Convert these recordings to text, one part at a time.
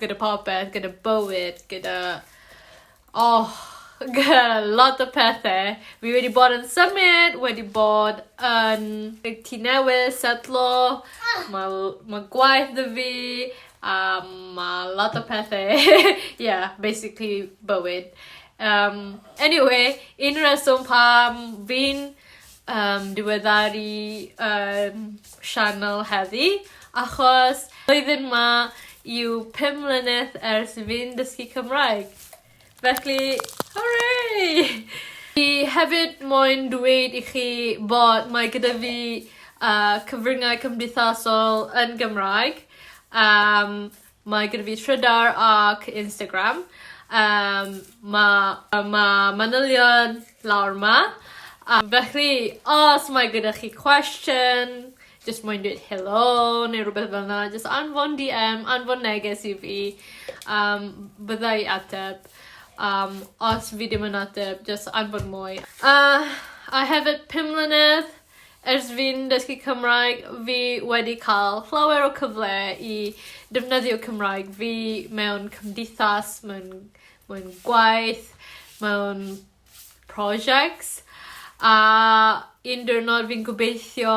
gyda popeth gyda bywyd gyda oh lot o pethe fi wedi bod yn symud wedi bod yn yy tŷ newydd setlo ma' l- ma' gwaith 'dy fi a ma' lot o pethe ie basically bywyd yym eniwe un reswm pam fi'n yym diweddaru yym sianel heddi achos blwyddyn 'ma yw pum mlynedd ers i fi'n dysgu Cymraeg. Felly hwre! Fi hefyd moyn dweud i chi bod mae gyda fi yy cyfryngau cymdeithasol yn Gymraeg yym Mae gyda fi Trydar ac Instagram yym ma' ma' manylion lawr 'ma a felly os mae gyda chi cwestiwn jyst moyn deud helo neu rwbeth fel 'na jyst anfon Dee Em anfon neges i fi a bydda i ateb a os fi dim yn ateb jyst anfon mwy. A a hefyd pum mlynedd Ers fi'n dysgu Cymraeg fi wedi ca'l llawer o cyfle i defnyddio Cymraeg fi mewn cymdeithas mewn mewn gwaith mewn prosiects a un diwrnod fi'n gobeithio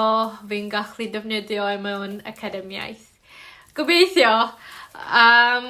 fi'n gallu defnyddio e mewn academiaeth. Gobeithio! Yym.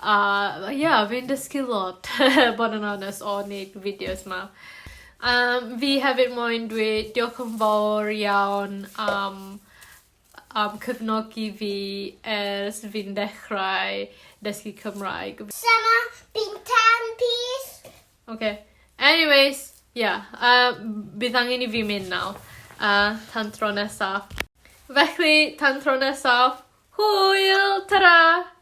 A ia fi'n dysgu lot bod yn onest o neud y fideos 'ma. Yym fi hefyd moyn dweud diolch yn fowr iawn am am cefnogi fi ers fi'n dechrau dysgu Cymraeg. Summer fi'n tan pys. Oce. Anyways ia yym bydd angen i fi mynd nawr. A tan tro nesa. Felly tan tro nesaf hwyl! Tara!